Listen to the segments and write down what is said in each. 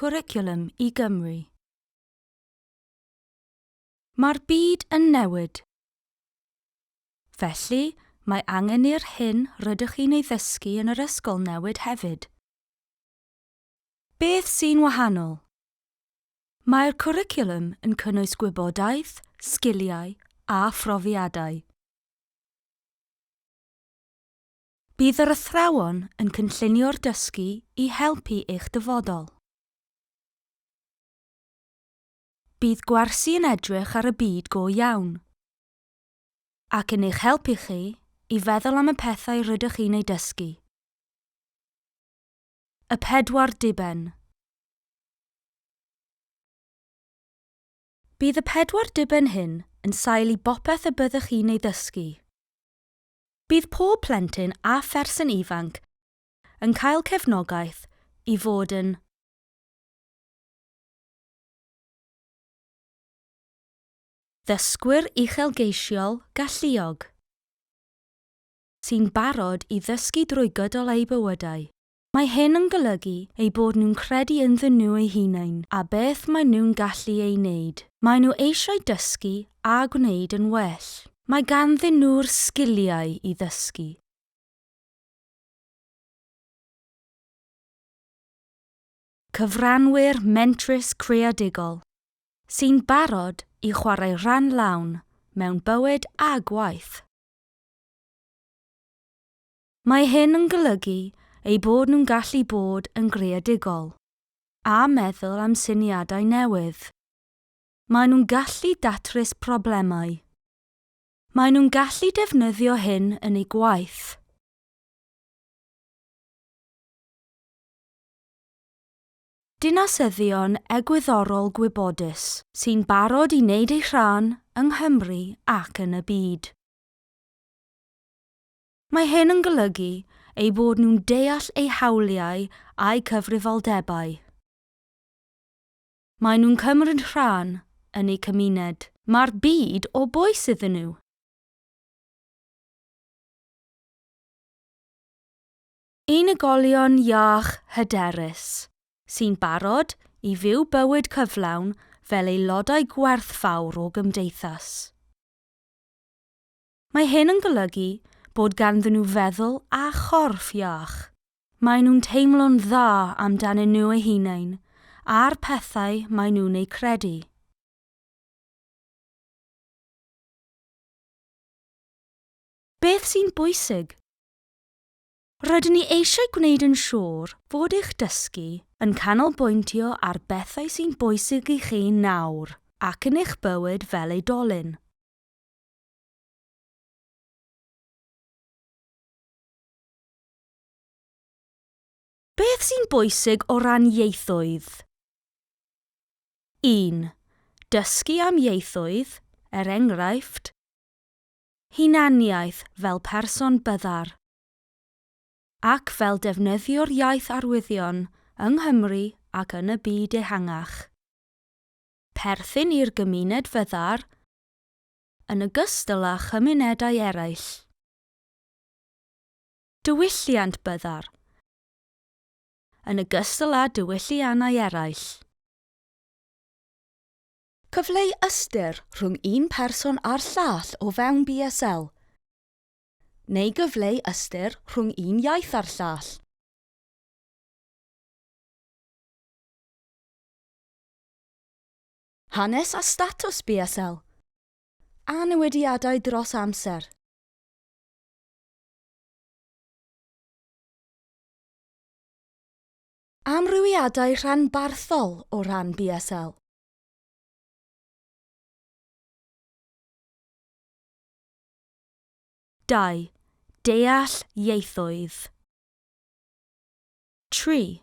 Cwricwlwm i Gymru. Mae'r byd yn newid. Felly, mae angen i'r hyn rydych chi'n ei ddysgu yn yr ysgol newid hefyd. Beth sy'n wahanol? Mae'r cwricwlwm yn cynnwys gwybodaeth, sgiliau a phrofiadau. Bydd yr athrawon yn cynllunio'r dysgu i helpu eich dyfodol. Bydd gwersi yn edrych ar y byd go iawn ac yn eich helpu chi i feddwl am y pethau rydych chi'n eu dysgu. Y pedwar diben. Bydd y pedwar diben hyn yn sail i bopeth y byddwch chi'n ei ddysgu. Bydd pob plentyn a pherson ifanc yn cael cefnogaeth i fod yn. Ddysgwyr uchelgeisiol galluog sy'n barod i ddysgu drwy gydol eu bywydau. Mae hyn yn golygu eu bod nhw'n credu ynddyn nhw eu hunain a beth maen nhw'n gallu ei wneud. Maen nhw eisiau dysgu a gwneud yn well. Mae ganddyn nhw'r sgiliau i ddysgu. Cyfranwyr mentrus creadigol sy'n barod i chwarae rhan lawn mewn bywyd a gwaith. Mae hyn yn golygu eu bod nhw'n gallu bod yn greadigol a meddwl am syniadau newydd. Maen nhw'n gallu datrys problemau. Maen nhw'n gallu defnyddio hyn yn eu gwaith. Dinasyddion egwyddorol gwybodus sy'n barod i wneud eu rhan yng Nghymru ac yn y byd. Mae hyn yn golygu eu bod nhw'n deall eu hawliau a'u cyfrifoldebau. Maen nhw'n cymryd rhan yn eu cymuned. Mae'r byd o bwys iddyn nhw. Unigolion iach hyderus, sy'n barod i fyw bywyd cyflawn fel aelodau gwerthfawr o gymdeithas. Mae hyn yn golygu bod ganddyn nhw feddwl a chorff iach. Maen nhw'n teimlo'n dda amdanyn nhw eu hunain a'r pethau maen nhw'n eu credu. Beth sy'n bwysig? Rydyn ni eisiau gwneud yn siŵr fod eich dysgu yn canolbwyntio ar bethau sy'n bwysig i chi nawr ac yn eich bywyd fel oedolyn. Beth sy'n bwysig o ran ieithoedd? 1. Dysgu am ieithoedd, er enghraifft, hunaniaeth fel person byddar, ac fel defnyddio'r iaith arwyddion yng Nghymru ac yn y byd ehangach. Perthyn i'r gymuned fyddar yn ogystal â chymunedau eraill. Diwylliant byddar, yn ogystal â diwylliannau eraill. Cyfleu ystyr rhwng un person a'r llall o fewn BSL, neu gyfleu ystyr rhwng un iaith a'r llall. Hanes a statws BSL. A newidiadau dros amser. Amrywiadau rhanbarthol o ran BSL. Dau, deall ieithoedd. Tri,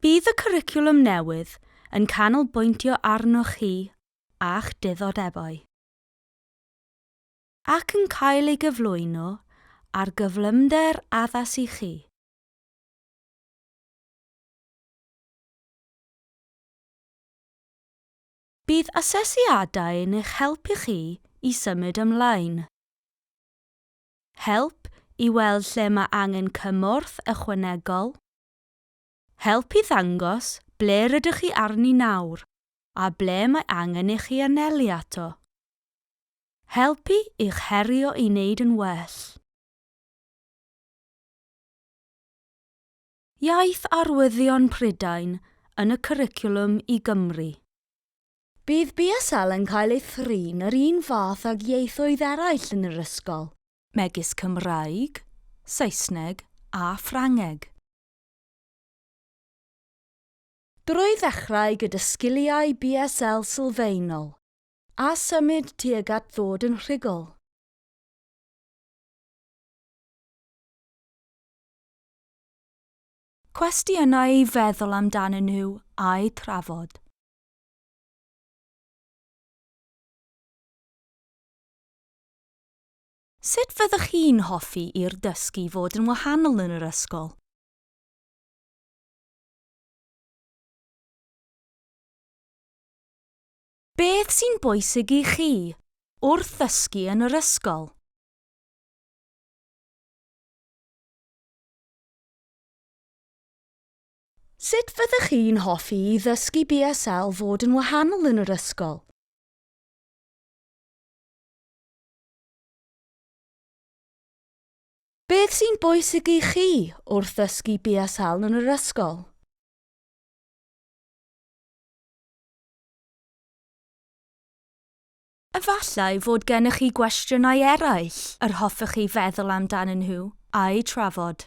Bydd y cwricwlwm newydd yn canolbwyntio arnoch chi a'ch diddordebau ac yn cael ei gyflwyno ar gyflymder addas i chi. Bydd asesiadau yn eich helpu chi i symud ymlaen. Help i weld lle mae angen cymorth ychwanegol Help i ddangos ble rydych chi arni nawr a ble mae angen i chi anelu ato. Helpu i'ch herio i wneud yn well. Iaith Arwyddion Prydain yn y Cwricwlwm i Gymru. Bydd BSL yn cael ei thrin yr un fath ag ieithoedd eraill yn yr ysgol, megis Cymraeg, Saesneg a Ffrangeg. Drwy ddechrau gyda sgiliau BSL sylfaenol, a symud tuag at ddod yn rhugl. Cwestiynau i feddwl amdanyn nhw a'u trafod. Sut fyddwch chi'n hoffi i'r dysgu fod yn wahanol yn yr ysgol? Beth sy'n bwysig i chi wrth ddysgu yn yr ysgol? Sut fyddwch chi'n hoffi i ddysgu BSL fod yn wahanol yn yr ysgol? Beth sy'n bwysig i chi wrth ddysgu BSL yn yr ysgol? Efallai fod gennych chi gwestiynau eraill yr hoffech chi feddwl amdanyn nhw a'u trafod.